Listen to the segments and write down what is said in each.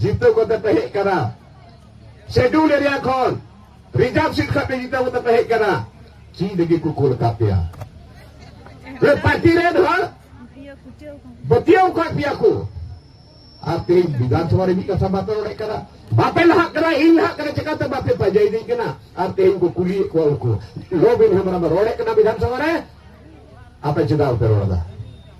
ᱡᱤᱛᱟᱹᱣ ᱠᱟᱛᱮ ᱯᱮ ᱦᱮᱡ ᱠᱟᱱᱟ ᱥᱮᱰᱩᱞ ᱮᱨᱤᱭᱟ ᱠᱷᱚᱱ ᱨᱤᱡᱟᱨᱵᱷ ᱥᱤᱴ ᱠᱷᱚᱱ ᱯᱮ ᱡᱤᱛᱟᱹᱣ ᱠᱟᱛᱮ ᱯᱮ ᱦᱮᱡ ᱠᱟᱱᱟ ᱪᱮᱫ ᱞᱟᱹᱜᱤᱫ ᱠᱚ ᱠᱩᱞ ᱟᱠᱟᱫ ᱯᱮᱭᱟ ᱯᱟᱨᱴᱤ ᱨᱮᱱ ᱦᱚᱲ ᱵᱟᱹᱛᱤᱭᱟᱹᱣ ᱠᱟᱜ ᱯᱮᱭᱟ ᱠᱚ ᱟᱨ ᱛᱮᱦᱮᱧ ᱵᱤᱫᱷᱟᱱᱥᱚᱵᱷᱟ ᱨᱮ ᱢᱤᱫ ᱠᱟᱛᱷᱟ ᱵᱟᱯᱮ ᱨᱚᱲᱮᱫ ᱠᱟᱱᱟ ᱵᱟᱯᱮ ᱞᱟᱦᱟᱜ ᱠᱟᱱᱟ ᱤᱧ ᱞᱟᱦᱟᱜ ᱠᱟᱱᱟ ᱪᱮᱠᱟᱛᱮ ᱵᱟᱯᱮ ᱯᱟᱸᱡᱟᱭᱤᱫᱤᱧ ᱠᱟᱱᱟ ᱟᱨ ᱛᱮᱦᱮᱧ ᱠᱚ ᱠᱩᱞᱤᱭᱮᱫ ᱠᱚᱣᱟ ᱩᱱᱠᱩ ᱞᱚᱵᱤᱱ ᱦᱮᱢᱵᱨᱚᱢ ᱨᱚᱲᱮᱫ ᱠᱟᱱᱟ ᱵᱤᱫᱷᱟᱱᱥᱚᱵᱷᱟ ᱨᱮ ᱟᱯᱮ ᱪᱮᱫᱟᱜ ᱵᱟᱯᱮ ᱨᱚᱲ ᱮᱫᱟ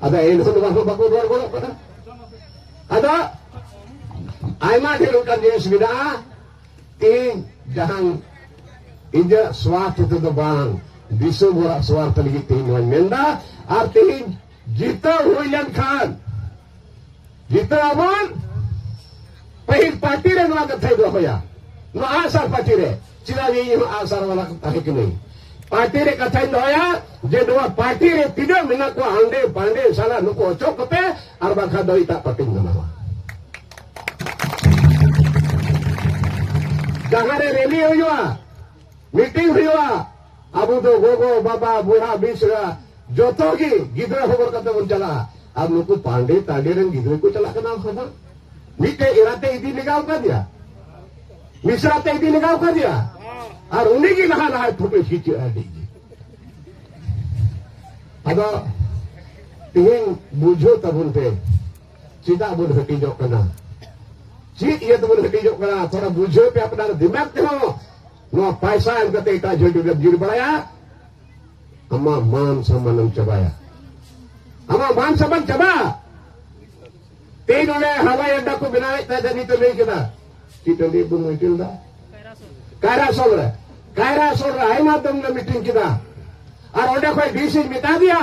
ᱟᱫᱚ ᱮᱱ ᱦᱤᱞᱳᱜ ᱫᱚ ᱵᱟᱠᱚ ᱵᱟᱠᱚ ᱨᱚᱲ ᱜᱚᱫᱚᱜ ᱠᱟᱱᱟ ᱟᱫᱚ ᱟᱭᱢᱟ ᱰᱷᱮᱨ ᱚᱱᱠᱟᱱ ᱡᱤᱱᱤᱥ ᱢᱮᱱᱟᱜᱼᱟ ᱤᱧ ᱡᱟᱦᱟᱸ ᱤᱧᱟᱹᱜ ᱥᱣᱟᱨᱛᱷ ᱛᱮᱫᱚ ᱵᱟᱝ ᱫᱤᱥᱚᱢ ᱦᱚᱲᱟᱜ ᱥᱣᱟᱨᱛᱷ ᱞᱟᱹᱜᱤᱫ ᱛᱮ ᱤᱧ ᱱᱚᱣᱟᱧ ᱢᱮᱱᱫᱟ ᱟᱨ ᱛᱮᱦᱮᱧ ᱡᱤᱛᱟᱹᱣ ᱦᱩᱭ ᱞᱮᱱᱠᱷᱟᱱ ᱱᱤᱛᱚᱜ ᱟᱵᱚᱱ ᱯᱟᱹᱦᱤᱞ ᱯᱟᱨᱴᱤ ᱨᱮ ᱱᱚᱣᱟ ᱠᱟᱛᱷᱟᱭ ᱫᱚᱦᱚᱭᱟ ᱱᱚᱣᱟ ᱟᱜᱥᱟᱨ ᱯᱟᱨᱴᱤ ᱨᱮ ᱪᱮᱫᱟᱜ ᱡᱮ ᱤᱧ ᱟᱜᱥᱟᱨ ᱵᱟᱞᱟ ᱛᱟᱦᱮᱸ ᱠᱟᱹᱱᱟᱹᱧ ᱯᱟᱨᱴᱤ ᱨᱮ ᱠᱟᱛᱷᱟᱧ ᱫᱚᱦᱚᱭᱟ ᱡᱮ ᱱᱚᱣᱟ ᱯᱟᱨᱴᱤ ᱨᱮ ᱛᱤᱱᱟᱹᱜ ᱢᱮᱱᱟᱜ ᱠᱚᱣᱟ ᱦᱟᱸᱰᱮ ᱵᱟᱸᱰᱮ ᱥᱟᱞᱟ ᱱᱩᱠᱩ ᱚᱪᱚᱜ ᱠᱚᱯᱮ ᱟᱨ ᱵᱟᱝᱠᱷᱟᱱ ᱫᱚ ᱮᱴᱟᱜ ᱯᱟᱨᱴᱤᱧ ᱵᱮᱱᱟᱣᱟ ᱡᱟᱦᱟᱸᱨᱮ ᱨᱮᱞᱤ ᱦᱩᱭᱩᱜᱼᱟ ᱢᱤᱴᱤᱝ ᱦᱩᱭᱩᱜᱼᱟ ᱟᱵᱚ ᱫᱚ ᱜᱚᱜᱚ ᱵᱟᱵᱟ ᱵᱚᱭᱦᱟ ᱢᱤᱥᱨᱟ ᱡᱚᱛᱚ ᱜᱮ ᱜᱤᱫᱽᱨᱟᱹ ᱦᱚᱵᱚᱨ ᱠᱟᱛᱮ ᱵᱚᱱ ᱪᱟᱞᱟᱜᱼᱟ ᱟᱨ ᱱᱩᱠᱩ ᱯᱟᱸᱰᱮ ᱛᱟᱸᱰᱮ ᱨᱮᱱ ᱜᱤᱫᱽᱨᱟᱹ ᱠᱚ ᱪᱟᱞᱟᱜ ᱠᱟᱱᱟ ᱦᱚᱵᱚᱨ ᱢᱤᱫᱴᱮᱡ ᱮᱨᱟᱛᱮ ᱤᱫᱤ ᱞᱮᱜᱟᱣ ᱠᱟᱫᱮᱭᱟ ᱢᱤᱥᱨᱟ ᱛᱮ ᱤᱫᱤ ᱞᱮᱜᱟᱣ ᱠᱟᱫᱮᱭᱟ ᱟᱨ ᱩᱱᱤ ᱜᱮ ᱞᱟᱦᱟ ᱞᱟᱦᱟ ᱯᱷᱳᱴᱳ ᱠᱷᱤᱪᱟᱹᱜᱼᱟ ᱟᱹᱰᱤ ᱜᱮ ᱟᱫᱚ ᱛᱮᱦᱮᱧ ᱵᱩᱡᱷᱟᱹᱣ ᱛᱟᱵᱚᱱ ᱯᱮ ᱪᱮᱫᱟᱜ ᱵᱚᱱ ᱦᱟᱹᱴᱤᱧᱚᱜ ᱠᱟᱱᱟ ᱪᱮᱫ ᱤᱭᱟᱹ ᱛᱮᱵᱚᱱ ᱦᱟᱹᱴᱤᱧᱚᱜ ᱠᱟᱱᱟ ᱛᱷᱚᱲᱟ ᱵᱩᱡᱷᱟᱹᱣ ᱯᱮ ᱟᱯᱱᱟᱨ ᱫᱤᱢᱟᱜᱽ ᱛᱮᱦᱚᱸ ᱱᱚᱣᱟ ᱯᱟᱭᱥᱟ ᱮᱢ ᱠᱟᱛᱮ ᱮᱴᱟᱜ ᱡᱷᱟᱹᱰᱩ ᱨᱮᱢ ᱡᱤᱨ ᱵᱟᱲᱟᱭᱟ ᱟᱢᱟᱜ ᱢᱟᱱ ᱥᱟᱢᱟᱱᱮᱢ ᱪᱟᱵᱟᱭᱟ ᱟᱢᱟᱜ ᱢᱟᱱ ᱥᱟᱢᱟᱱ ᱪᱟᱵᱟ ᱛᱮᱦᱮᱧ ᱱᱚᱰᱮ ᱦᱟᱣᱟᱭ ᱟᱰᱰᱟ ᱠᱚ ᱵᱮᱱᱟᱣᱮᱫ ᱛᱟᱦᱮᱸ ᱱᱤᱛᱚᱜ ᱞᱟᱹᱭ ᱠᱮᱫᱟ ᱪᱮᱫ ᱴᱟᱺᱰᱤ ᱵᱚᱱ ᱢᱤᱴᱤᱞ ᱫᱟ ᱠᱟᱭᱨᱟ ᱥᱚᱞ ᱨᱮ ᱠᱟᱭᱨᱟ ᱥᱚᱞ ᱨᱮ ᱟᱭᱢᱟ ᱫᱚᱢ ᱞᱮ ᱢᱤᱴᱤᱝ ᱠᱮᱫᱟ ᱟᱨ ᱚᱸᱰᱮ ᱠᱷᱚᱱ ᱰᱤᱥᱤᱧ ᱢᱮᱛᱟ ᱫᱮᱭᱟ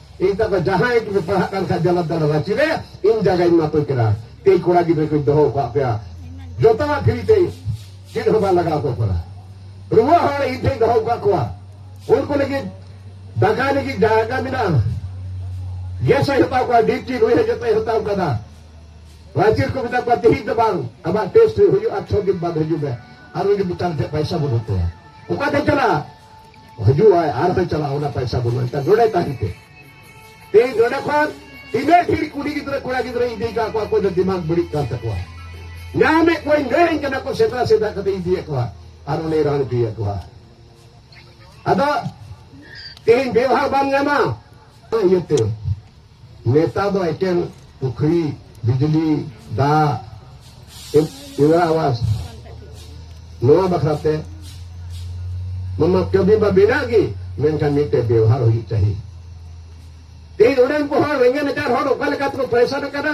ᱮᱭᱛᱟ ᱠᱚ ᱡᱟᱦᱟᱸᱭ ᱜᱮ ᱯᱟᱲᱦᱟᱜ ᱠᱟᱱ ᱠᱷᱟᱡ ᱡᱟᱞᱟᱫ ᱫᱟᱲᱟ ᱨᱟᱸᱪᱤ ᱨᱮ ᱤᱧ ᱡᱟᱭᱜᱟᱧ ᱮᱢᱟ ᱯᱮ ᱠᱟᱱᱟ ᱛᱮᱭ ᱠᱚᱲᱟ ᱜᱤᱫᱽᱨᱟᱹ ᱠᱚᱧ ᱫᱚᱦᱚ ᱟᱠᱟᱫ ᱯᱮᱭᱟ ᱡᱚᱛᱚᱣᱟᱜ ᱯᱷᱨᱤ ᱛᱮ ᱪᱮᱫ ᱦᱚᱸ ᱵᱟᱝ ᱞᱟᱜᱟᱣ ᱠᱚ ᱠᱟᱱᱟ ᱨᱩᱣᱟᱹ ᱦᱚᱲ ᱤᱧ ᱴᱷᱮᱱ ᱫᱚᱦᱚ ᱟᱠᱟᱫ ᱠᱚᱣᱟ ᱩᱱᱠᱩ ᱞᱟᱹᱜᱤᱫ ᱫᱟᱠᱟ ᱞᱟᱹᱜᱤᱫ ᱡᱟᱭᱜᱟ ᱢᱮᱱᱟᱜᱼᱟ ᱜᱮᱥ ᱦᱚᱸᱭ ᱦᱟᱛᱟᱣ ᱠᱚᱣᱟ ᱰᱤᱯᱴᱤ ᱱᱩᱭ ᱦᱚᱸ ᱡᱚᱛᱚᱭ ᱦᱟᱛᱟᱣ ᱠᱟᱫᱟ ᱨᱟᱸᱪᱤ ᱨᱮᱠᱚ ᱢᱮᱛᱟ ᱠᱚᱣᱟ ᱛᱮᱦᱮᱧ ᱫᱚ ᱵᱟᱝ ᱟᱢᱟᱜ ᱴᱮᱥᱴ ᱦᱩᱭᱩᱜᱼᱟ ᱪᱷᱚ ᱫᱤᱱ ᱵᱟᱫ ᱦᱤᱡᱩᱜ ᱢᱮ ᱟᱨ ᱩᱱᱤ ᱢᱮᱛᱟᱢ ᱴᱷᱮᱱ ᱯᱟᱭᱥᱟ ᱵᱟᱹᱱᱩᱜ ᱛᱟᱭᱟ ᱚᱠᱟᱛᱮ ᱪᱟᱞᱟᱜᱼᱟ ᱦᱤᱡᱩᱜ ᱟᱭ ᱟᱨ ᱦᱚᱸᱭ ᱪᱟᱞᱟᱜᱼᱟ ᱚᱱᱟ ᱯᱟᱭᱥᱟ ᱵᱟᱹᱱᱩᱜᱼᱟ ᱮᱱᱠᱷᱟᱱ ᱱᱚᱰᱮ ᱛᱟᱦᱮᱱ ᱯᱮ ᱛᱮᱦᱮᱧ ᱱᱚᱰᱮ ᱠᱷᱚᱱ ᱛᱤᱱᱟᱹᱜ ᱰᱷᱮᱨ ᱠᱩᱲᱤ ᱜᱤᱫᱽᱨᱟᱹ ᱠᱚᱲᱟ ᱜᱤᱫᱽᱨᱟᱹ ᱤᱫᱤ ᱠᱟᱜ ᱠᱚᱣᱟ ᱚᱠᱚᱭ ᱫᱚ ᱫᱤᱢᱟᱜᱽ ᱵᱟᱹᱲᱤᱡ ᱠᱟᱱ ᱛᱟᱠᱚᱣᱟ ᱧᱟᱢᱮᱫ ᱠᱚᱣᱟᱧ ᱞᱟᱹᱭᱟᱹᱧ ᱠᱟᱱᱟ ᱠᱚ ᱥᱮᱛᱟ ᱥᱮᱛᱟ ᱠᱟᱛᱮ ᱤᱫᱤᱭᱮᱫ ᱠᱚᱣᱟ ᱟᱨ ᱚᱱᱮ ᱨᱟᱱ ᱤᱫᱤᱭᱮᱫ ᱠᱚᱣᱟ ᱟᱫᱚ ᱛᱮᱦᱮᱧ ᱵᱮᱣᱦᱟᱨ ᱵᱟᱢ ᱧᱟᱢᱟ ᱤᱭᱟᱹᱛᱮ ᱱᱮᱛᱟ ᱫᱚ ᱮᱠᱮᱱ ᱯᱩᱠᱷᱨᱤ ᱵᱤᱡᱽᱞᱤ ᱫᱟᱜ ᱤᱱᱫᱨᱟ ᱟᱵᱟᱥ ᱱᱚᱣᱟ ᱵᱟᱠᱷᱨᱟᱛᱮ ᱢᱟᱢᱟ ᱠᱟᱹᱢᱤ ᱢᱟ ᱢᱮᱱᱟᱜ ᱜᱮ ᱢᱮᱱᱠᱷᱟᱱ ᱢᱤᱫᱴᱮᱡ ᱵᱮᱣᱦᱟᱨ ᱦᱩᱭᱩᱜ ᱪᱟᱹᱦᱤ ᱛᱮᱦᱮᱧ ᱚᱸᱰᱮᱱ ᱠᱚ ᱦᱚᱲ ᱨᱮᱸᱜᱮᱡ ᱱᱟᱪᱟᱨ ᱦᱚᱲ ᱚᱠᱟ ᱞᱮᱠᱟ ᱛᱮᱠᱚ ᱯᱨᱮᱥᱟᱨ ᱟᱠᱟᱱᱟ